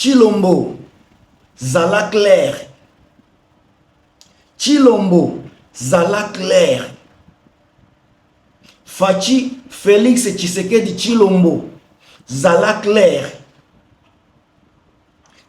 Chilombo zala clair Chilombo zala clair Fachi Felix Tshisekedi Chilombo zala clair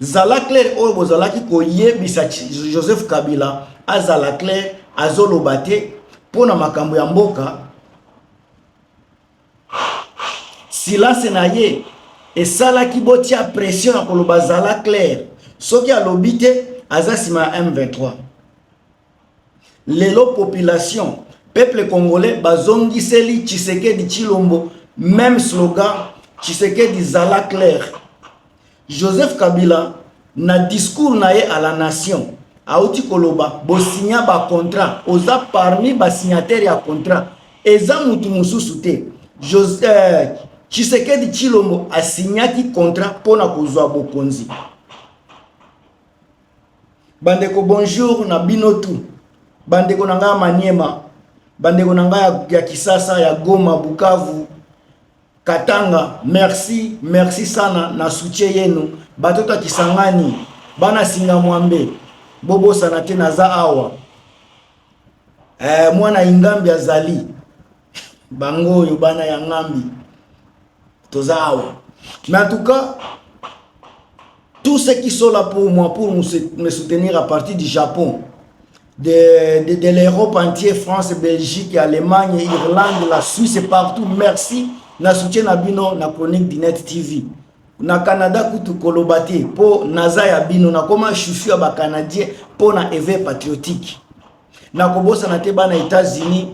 zala claire oyo bozalaki koyebisa joseph kabila azala claire azoloba te mpo na makambo ya mboka silence na ye esalaki botia pression ya koloba zala claire soki alobi te aza nsima ya m23 lelo population peuple congolais bazongiseli tshisekedi tshilombo meme slogan tshisekedi zala claire Joseph Kabila na discours na ye à la nation auti koloba bosinya ba contrat oza parmi ba signataire ya contrat eza mutu mosusu te Jose, euh, Tshisekedi Chilombo asignaki contrat mpo na kozwa bokonzi bandeko bonjour na bino tu bandeko na ngai ya maniema bandeko na ngai ya, ya kisasa ya goma bukavu Katanga merci merci sana na soutien yenu bato ta Kisangani bana singa mwambe bobosana te naza awa eh, mwana ingambi azali bango oyo bana ya ngambi toza awa mais en tout cas tous ceux qui sont là pour moi pour me soutenir à partir du Japon de, de, de l'Europe entier, France, Belgique, Allemagne, Irlande, la Suisse et partout. Merci. Na soutien na bino na chronique du Net TV. Na Canada kutu koloba te po naza ya bino na koma chouchou ya ba Canadiens po na éveil patriotique. Na kobosana te bana États-Unis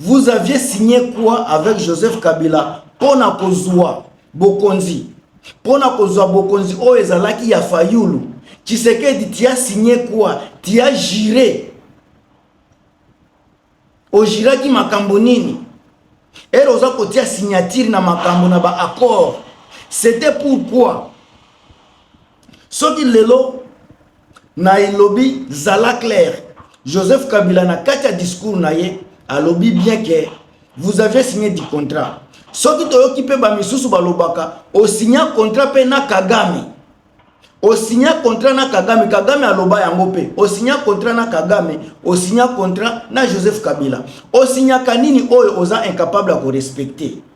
Vous aviez signé quoi avec Joseph Kabila pona kozua bokonzi pona kozua bokonzi oyo ezalaki ya Fayulu Tshisekedi tu as signé quoi tu as juré ojiraki makambo nini ere oza kotia signature na makambo na ba accord c'était pourquoi soki lelo na elobi zala claire joseph kabila na kati ya discours na ye alobi bien ke vous avez signé du contrat soki toyoki mpe bamisusu balobaka osigna contrat mpe na kagame osigna contrat na kagame kagame aloba yango mpe osigna contrat na kagame osigna contrat na joseph kabila osignaka nini oyo oza incapable ya korespecte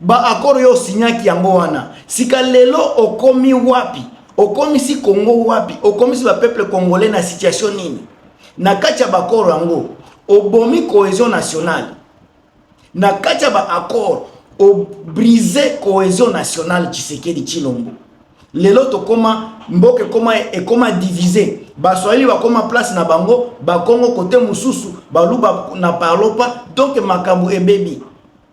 ba accord yo osignaki yango wana sika lelo okomi wapi okomisi congo wapi okomisi bapeuple congolais na situation nini na kati ya baakoro yango obomi cohesion nationale na kati ya baakoro obrise cohesion nationale tshisekedi tshilombo lelo tokoma mboka ekoma ekoma divise baswahili bakoma place na bango bakongo kote mosusu baluba na parlopa donk makambo ebebi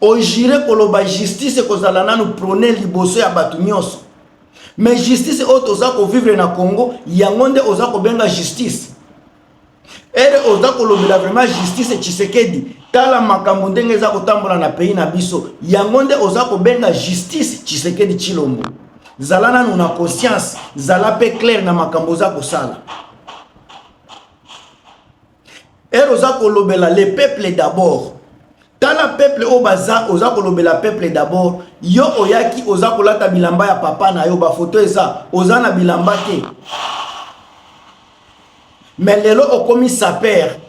ojire koloba justice ekozala nanu prone liboso ya bato nyonso me justice oyo toza kovivre na congo yango nde oza kobenga justice ere oza kolobela vraiment justice tshisekedi tala makambo ndenge eza kotambola na pays na biso yango nde oza kobenga justice tshisekedi tshilombo zala nanu na conscience zala mpe claire na makambo oza kosala ere oza kolobela le peuple d'abord tala peuple oyo baza oza kolobela peuple d'abord yo oyaki oza kolata bilamba ya papa na yo bafoto eza oza na bilamba te me lelo okomi sapere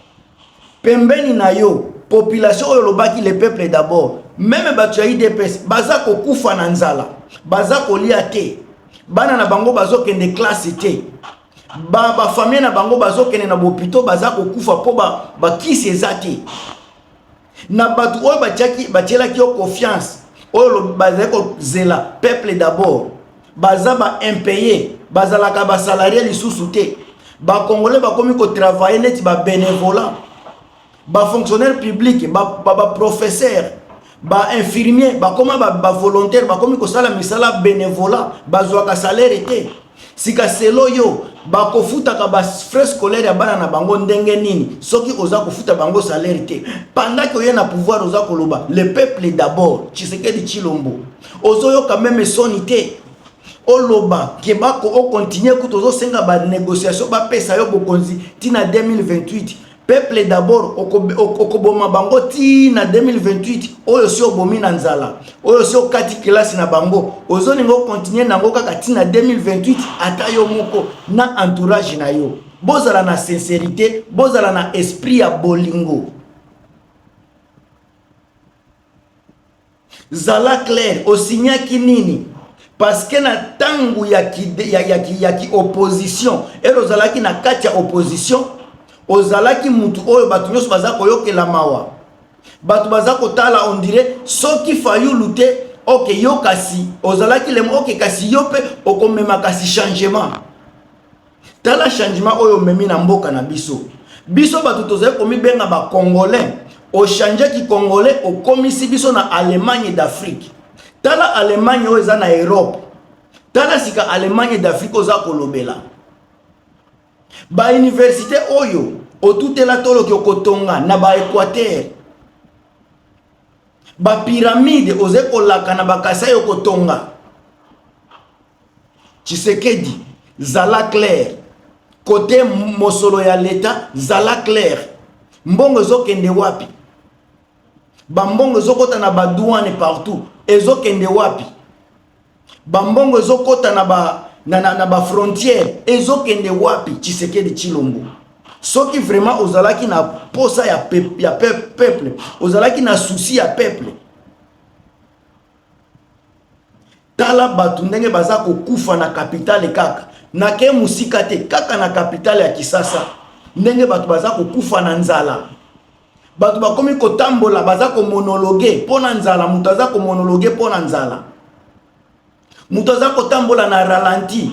pembeni na yo population oyo olobaki le peuple d'abord meme bato ya idps baza kokufa na nzala baza kolia te bana na bango bazokende klase te ba ba famille na bango bazokende na bopito baza kokufa mpo bakisi ba eza te na bato oyo batielaki yo confiance oyo bazali kozela peuple d'abord baza ba impaye bazalaka basalarie lisusu te bakongole bakomi kotravaille neti babenevola ba fonctionnaire public ba ba, ba professeur ba infirmier bakoma ba, ba volontaire bakomi kosala misala benevola bazwaka salaire te sika selo yo bakofutaka ba frais scolaire ya bana na bango ndenge nini soki oza kofuta bango salaire te pandaki oye na pouvoir oza koloba le peuple d'abord tshisekedi tshilombo ozoyoka meme soni te oloba ke bako okontinue kutu ozosenga banégociation bapesa yo bokonzi ntina 2028 peuple d'abord okoboma bango ti na 2028 oyo si obomi na nzala oyo si okati kelasi na bango ozolinga okontinue nango kaka ti na 2028 ata yo moko na entourage na yo bozala na sincerité bozala na esprit ya bolingo Zala clair, osignaki nini? Parce que na tango ya ki ya, ya, ki, ya ki opposition, elo ozalaki na kati ya opposition, ozalaki mutu oyo bato nyonso baza koyokela mawa. Bato baza kotala on dirait soki Fayulu te, ok yo kasi ozalaki lemo, ok kasi yo pe okomema kasi changement. tala changement oyo omemi na mboka na biso biso bato tozali komibenga bacongolais ochange kicongolais okomisi biso na allemagne d'afrique tala allemagne oyo eza na europe tala sika allemagne d'afrique oza kolobela bauniversité oyo otutela toloki okotonga na baequateur bapiramide ozali kolaka na bakasai okotonga tshisekedi zala claire kote mosolo ya leta zala claire mbongo ezokende wapi bambongo ezokota na badouane partout ezokende wapi bambongo ezokota na ba na, na, na bafrontiere ezokende wapi tshisekedi tshilombo soki vraiment ozalaki na posa ya, pep, ya pep, peuple ozalaki na souci ya peuple Tala bato ndenge baza kokufa na kapitale kaka nake mosika te, kaka na kapitale ya Kisasa ndenge bato baza kokufa na nzala. Bato bakomi kotambola baza komonologe mpo na nzala, moto aza komonologe mpo na nzala, moto aza kotambola na ralenti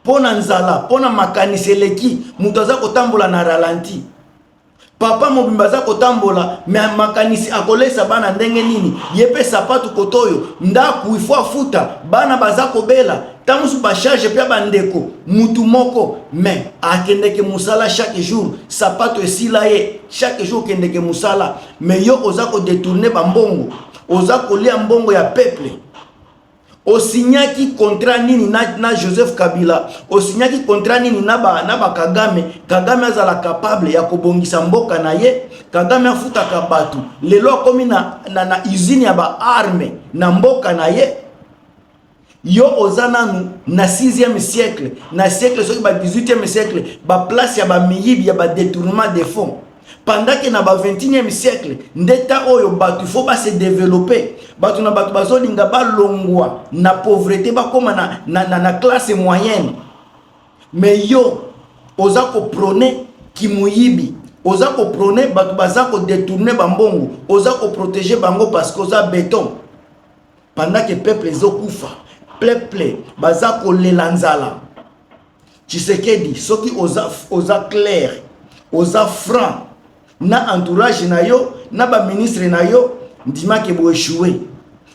mpo na nzala, mpo na makanisi eleki, moto aza kotambola na ralenti. papa mobimba aza kotambola me makanisi akolesa bana ndenge nini ye mpe sapatu koto oyo ndako ifo afuta bana baza kobela ntango mosusu bacharge mpe ya bandeko mutu moko me akendeke mosala chaque jour sapato esila ye chaque jour okendeke mosala me yo oza kodetourne bambongo oza kolia mbongo ya peuple osignaki contrat nini na, na joseph kabila osignaki contrat nini na, ba, na bakagame kagame azala capable ya kobongisa mboka na ye kagame afutaka bato lelo akomi na, na, na usine ya baarme na mboka na ye yo oza nanu na 6e siècle na siècle soki ba 18e siècle baplace ya bamiyibi ya badetournement de fonds pendant que na ba 21e siècle nde ta oyo bato faut ba se développer bato na bato bazolinga balongwa na pauvreté bakoma na, na, na, na classe moyenne mais yo oza koprone kimoyibi oza koprone bato baza kodetourne bambongo oza koprotege bango parce que oza beton pendant que peuple ezokufa peuple baza kolela nzala tshisekedi soki oza, oza claire oza franc na entourage na yo na baministre na yo ndimake boechoue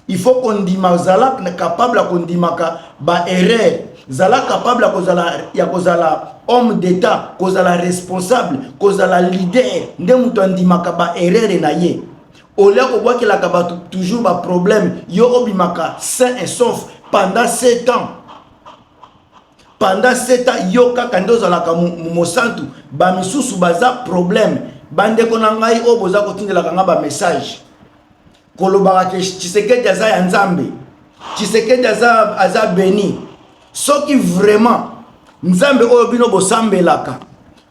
il faut kondima zala capable ya kondimaka baerreur zala capable ya kozala ya kozala homme d'état kozala responsable kozala leader nde moto andimaka baerreur na ye olia kobwakelaka bato toujours baproblème yo obimaka sain et sauf pendant 7 ans pendant 7 ans yo kaka nde ozalaka mosantu bamisusu baza problème bandeko na ngai oyo boza kotindelaka ngai bamessage kolobaka ke tshisekedi aza ya nzambe tshisekedi aza, aza beni soki vraiment nzambe oyo bino bosambelaka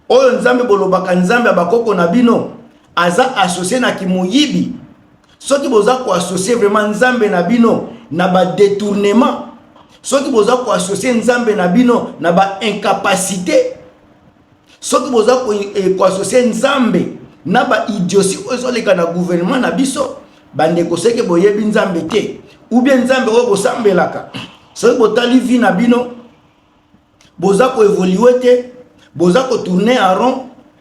oyo nzambe bolobaka nzambe ya bakoko na bino aza associe na kimoyibi soki boza koassocie vraiment nzambe na bino na badetournement soki boza koassocie nzambe na bino na baincapacité soki boza koassocie eh, nzambe na baidiosi oyo ezoleka na gouvernement na biso bandeko seke boyebi nzambe te ou bien nzambe oyo bosambelaka soki botali vi na bino boza ko evolue te boza ko tourner en rond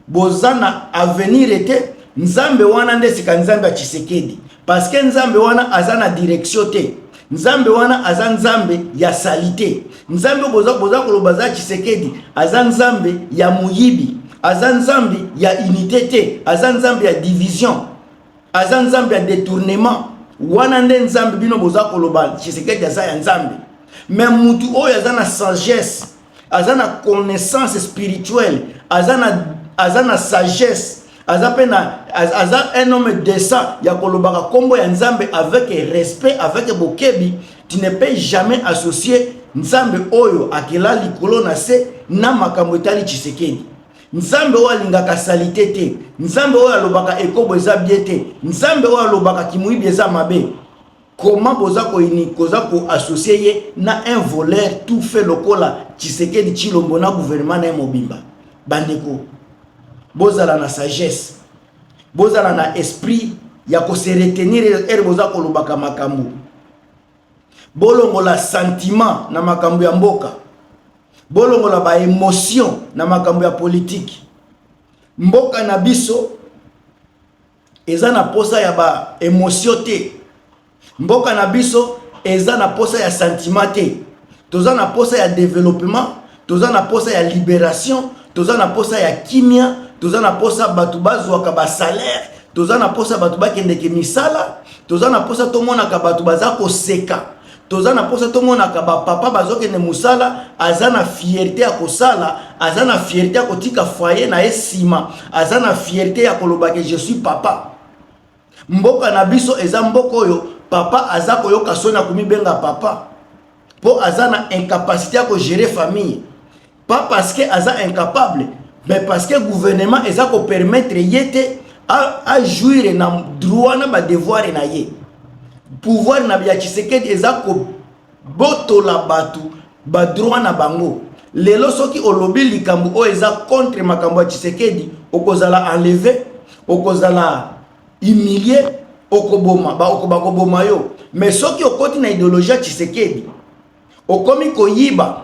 boza na avenir te nzambe wana nde sika nzambe ya tshisekedi parce que nzambe wana aza na direction te nzambe wana aza nzambe ya salite nzambe boza boza koloba aza tshisekedi aza nzambe ya moyibi aza nzambe ya unité te aza nzambe ya division aza nzambe ya detournement wana nde nzambe bino boza koloba tshisekedi aza ya nzambe me mutu oyo aza na sagesse aza na connaissance spirituelle aza na, aza na sagesse aza mpe na aza un homme décent ya kolobaka nkombo ya nzambe avec respect avec bokebi tu ne peux jamais associer nzambe oyo akela likolo na se na makambo etali tshisekedi nzambe oyo alingaka salite te nzambe oyo alobaka ekobo eza bie te nzambe oyo alobaka kimoyibi eza mabe koma boza koini koza koassocie ye na un voleur tout fait lokola tshisekedi tshilombo na gouvernement na ye mobimba bandeko bozala na sagesse bozala na esprit ya koseretenir ere boza kolobaka makambo bolongola sentiment na makambo ya mboka bolongola ba emotion na makambo ya politiki mboka na biso eza na posa ya ba emotion te mboka na biso eza na posa ya sentiment te toza na posa ya developement toza na posa ya liberation toza na posa ya kimia toza na posa bato bazwaka basalaire toza na posa bato bakendeke misala toza na posa tomonaka bato baza koseka toza na posa tomonaka bapapa bazokende mosala aza na fierte ya kosala aza na fierte ya kotika foye na ye nsima aza na fierte ya kolobake je suis papa Mboka na biso eza mboka oyo papa aza koyoka soni ya komibenga papa mpo aza na incapacité ya kogere famille pas parce que aza incapable mais parce que gouvernement eza kopermettre ye te ajouire na droit na badevoir na ye pouvoir na ya tshisekedi eza ko botola bato badroit na bango lelo soki olobi likambo oyo eza contre makambo ya tshisekedi okozala enleve okozala humilie okoboma bakoboma yo me soki okoti na ideologie ya tshisekedi okomi koyiba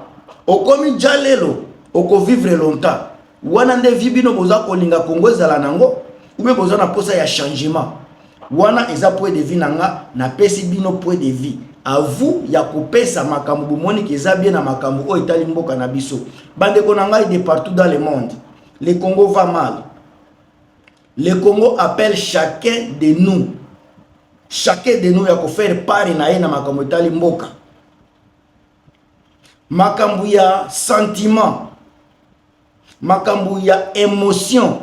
okomi jalelo okovivre longtemps wana nde vie bino boza kolinga kongo ezala nango ube boza na posa ya changement wana eza point de vie na nga napesi bino point de vie à vous ya kopesa makambo bomoni ke eza bien na makambo oyo etali mboka na biso bandeko na ngai de partout dans le monde le congo va mal le congo appelle chacun de nous chacun de nous ya kofaire pare na ye na makambo etali mboka makambo ya sentiment makambo ya emotion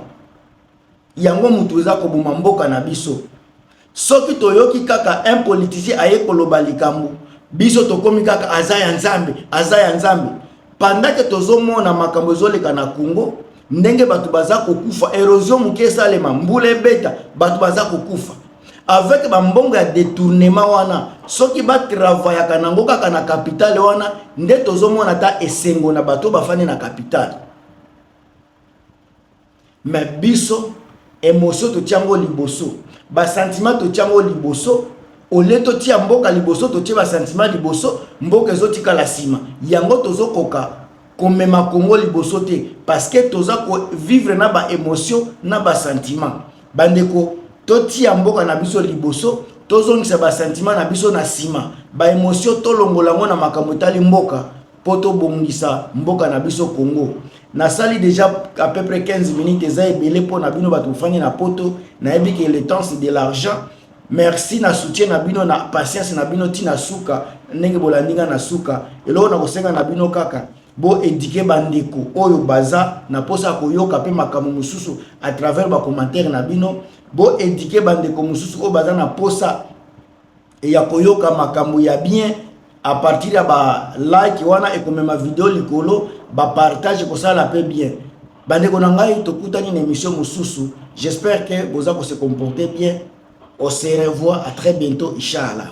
yango moto eza koboma mboka na biso soki toyoki kaka un politicien aye koloba likambo biso tokomi kaka aza ya nzambe aza ya nzambe pendant ke tozomona makambo ezoleka na congo ndenge bato baza kokufa erosion moke esalema mbula ebeta bato baza kokufa avec bambongo ya détournement wana soki batravayaka nango kaka na kapitale wana nde tozomona ata esengo na bato bafandi na kapitale me biso emotio totya yango liboso basantima totya yango liboso olie totia mboka liboso totie basantima liboso mboka ezotikala nsima yango tozokoka komema congo liboso te parce que toza ko vivre na ba émotion na ba sentiment bandeko totia mboka na biso liboso tozongisa ba sentiment na biso na nsima ba émotion tolongola yango na makambo etali mboka mpo tobongisa mboka na biso congo nasali déjà à peu près 15 minutes eza ebele mpo na bino bato bofandi na poto nayebi ke le temps c'est de l'argent Merci na soutien na bino na patience na bino ti na suka ndenge bolandi nga na suka eloko na kosenga na bino kaka bo éduquer bandeko oyo baza na posa koyoka pe makambo mosusu à travers ba commentaires na bino bo éduquer bandeko mosusu oyo baza na posa ya koyoka makambo ya bien à partir ya ba like wana ekomema video likolo ba partage kosala pe bien bandeko na ngai tokutani na émission mosusu j'espère que boza ko se comporter bien on se revoit à très bientôt inchallah